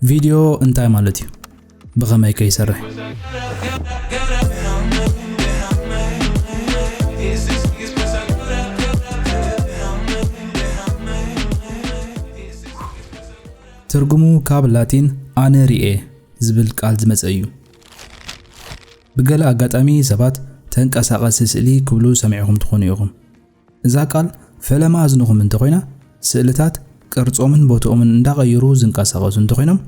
ቪድዮ እንታይ ማለት እዩ? ብኸመይ ከ ይሰርሕ? ትርጉሙ ካብ ላቲን ኣነ ሪኤ ዝብል ቃል ዝመፀ እዩ። ብገለ ኣጋጣሚ ሰባት ተንቀሳቐሲ ስእሊ ክብሉ ሰሚዕኹም ትኾኑ ኢኹም። እዛ ቃል ፈለማ እዝንኹም እንተኾይና፣ ስእልታት ቅርጾምን ቦትኦምን እንዳቐየሩ ዝንቀሳቐሱ እንተኾይኖም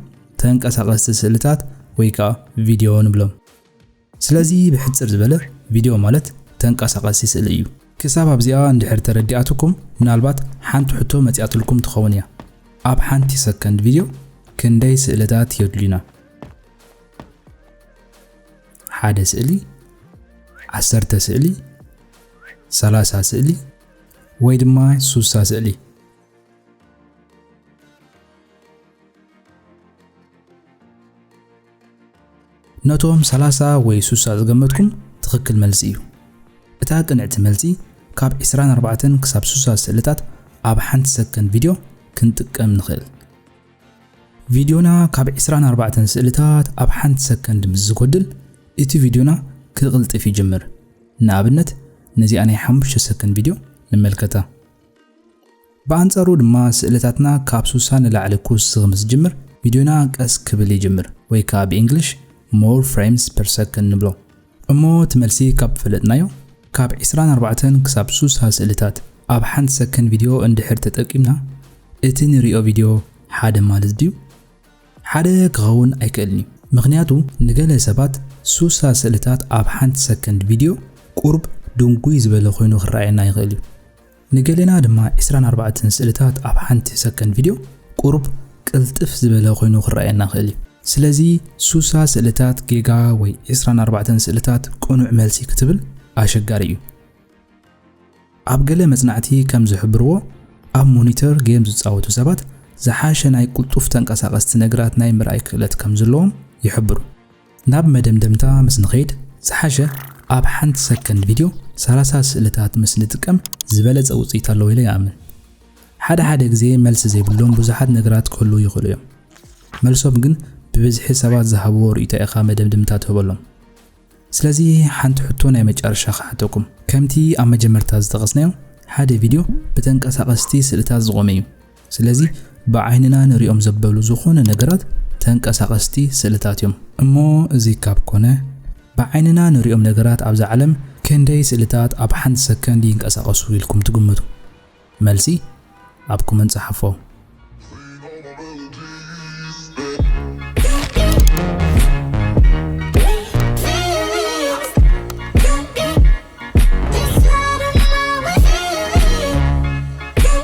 ተንቀሳቐስቲ ስእልታት ወይ ከኣ ቪድዮ ንብሎም። ስለዚ ብሕጽር ዝበለ ቪድዮ ማለት ተንቀሳቐሲ ስእሊ እዩ። ክሳብ ኣብዚኣ እንድሕር ተረዲኣትኩም ምናልባት ሓንቲ ሕቶ መጺኣትልኩም ትኸውን እያ። ኣብ ሓንቲ ሰከንድ ቪድዮ ክንደይ ስእልታት የድልዩና? ሓደ ስእሊ፣ ዓሰርተ ስእሊ፣ ሰላሳ ስእሊ ወይ ድማ ሱሳ ስእሊ ነቶም ሰላሳ ወይ ሱሳ ዝገመትኩም ትኽክል መልሲ እዩ። እታ ቅንዕቲ መልሲ ካብ 24 ክሳብ 60 ስእልታት ኣብ ሓንቲ ሰከንድ ቪድዮ ክንጥቀም ንኽእል። ቪድዮና ካብ ዕስራን ኣርባዕተን ስእልታት ኣብ ሓንቲ ሰከንድ ምስ ዝጎድል እቲ ቪድዮና ክቕልጥፍ ይጅምር። ንኣብነት ነዚኣ ናይ ሓሙሽተ ሰከንድ ቪድዮ ንመልከታ። ብኣንጻሩ ድማ ስእልታትና ካብ ሱሳ ንላዕሊ ክውስኽ ምስ ዝጅምር ቪድዮና ቀስ ክብል ይጅምር ወይ ከዓ ብእንግሊሽ more frames per second ንብሎ። እሞ እቲ መልሲ ካብ ፈለጥናዮ ካብ ዕስራን ኣርባዕተን ክሳብ ሱሳ ስእልታት ኣብ ሓንቲ ሰከን ቪድዮ እንድሕር ተጠቂምና እቲ ንሪኦ ቪድዮ ሓደ ማለት ድዩ? ሓደ ክኸውን ኣይክእልን እዩ ምኽንያቱ ንገለ ሰባት ሱሳ ስእልታት ኣብ ሓንቲ ሰከንድ ቪድዮ ቁሩብ ድንጉይ ዝበለ ኮይኑ ክረኣየና ይኽእል እዩ። ንገሌና ድማ ዕስራን ኣርባዕተን ስእልታት ኣብ ሓንቲ ሰከንድ ቪድዮ ቁሩብ ቅልጥፍ ዝበለ ኮይኑ ክረኣየና ይኽእል እዩ። ስለዚ ሱሳ ስእልታት ጌጋ ወይ ዕስራን ኣርባዕተን ስእልታት ቅኑዕ መልሲ ክትብል ኣሸጋሪ እዩ። ኣብ ገለ መጽናዕቲ ከም ዝሕብርዎ ኣብ ሞኒተር ጌም ዝጻወቱ ሰባት ዝሓሸ ናይ ቅልጡፍ ተንቀሳቐስቲ ነግራት ናይ ምርኣይ ክእለት ከም ዝለዎም ይሕብሩ። ናብ መደምደምታ ምስ ንኸይድ ዝሓሸ ኣብ ሓንቲ ሰከንድ ቪድዮ ሰላሳ ስእልታት ምስ ንጥቀም ዝበለጸ ውጽኢት ኣለዎ ኢለ ይኣምን። ሓደ ሓደ ግዜ መልሲ ዘይብሎም ብዙሓት ነገራት ክህልዉ ይኽእሉ እዮም። መልሶም ግን ብብዝሒ ሰባት ዝሃብዎ ርእይቶ ኢኻ መደምድምታ ትህበሎም። ስለዚ ሓንቲ ሕቶ ናይ መጨረሻ ክሓተኩም። ከምቲ ኣብ መጀመርታ ዝጠቐስናዮ ሓደ ቪድዮ ብተንቀሳቐስቲ ስእልታት ዝቖመ እዩ። ስለዚ ብዓይንና ንሪኦም ዘበሉ ዝኾነ ነገራት ተንቀሳቐስቲ ስእልታት እዮም። እሞ እዚ ካብ ኮነ ብዓይንና ንሪኦም ነገራት ኣብዛ ዓለም ክንደይ ስእልታት ኣብ ሓንቲ ሰከንድ ይንቀሳቐሱ ኢልኩም ትግምቱ? መልሲ ኣብ ኮመንት ጸሓፎ።